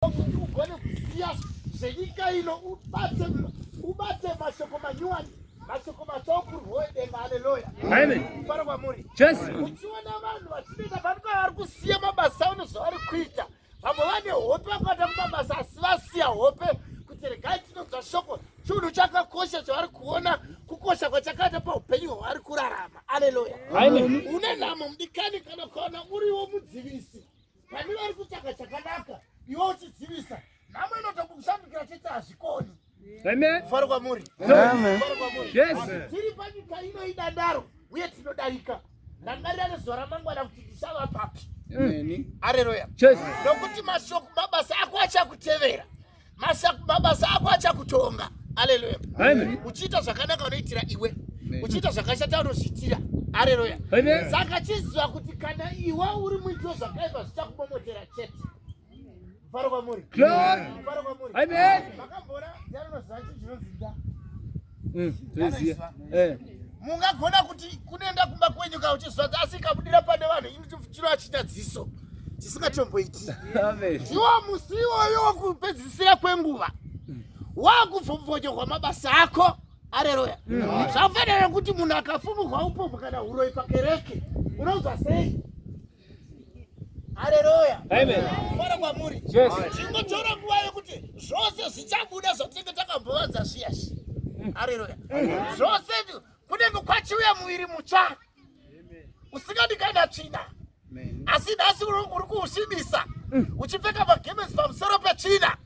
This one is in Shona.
kuti ugone kuziva zvenyika ino ubate ubate mashoko manyuwani mashoko matsva okurwoedenga aleluya kufara kwamuri uchiona vanhu vachinoita panika vari kusiya mabasa ano zvavari kuita vamwe vane hope vakaita mumabasa asi vasiya hope kuti regai tinonzwa shoko chinhu chakakosha chavari kuona kukosha kwachakaita paupenyu hwavari kurarama aleluya une nhamo mudikani kana ukaona uriwo mudzivisi Vani vari kutsvaga chakanaka iwe uchidzivisa nhamo inoda kukushandukira chete hazvikoni. Amen. Faro kwamuri. Amen. Faro kwamuri. Yes. Tiri panyika ino idandaro uye tinodarika. Rangarira nezuva ramangwana kuti ndichava papi. Amen. Haleluya. Yes. Nokuti mashoko mabasa ako achakutevera. mabasa ako achakutonga aleluya uchiita zvakanaka unoitira iwe uchiita zvakashata unozviitira aleluya saka chiziva kuti kana iwe uri muitiro zvakaipa zvichakubomotera chete mfaro kwamuri mfaro kwamuri makamboona zano zvacho zvinonzinda mm, eh. mungagona kuti kunoenda kumba kwenyu ka uchizvadza asi ikabudira pane vanhu chiro achita dziso chisingatomboiti ndiwo musi iwoyo wokupedzisira kwenguva mm. wakuvhomvonyorwa mabasa ako areroya mm. zvafanira kuti munhu akafumurwa upopo kana uroyi pakereke unonzwa sei Haleluya. Amen. Fara kwa muri. Yes. Chingo chora kuwa yokuti zvose zvichabuda zvatinge takambovanza zviyas. Mm. Haleluya. Zvose kune mukwachiuya muiri mutsva. Amen. Usikadi kana china. Amen. Asi nasi uri kuusimisa. Mm. Uchipfeka magemesi pamusoro pechina.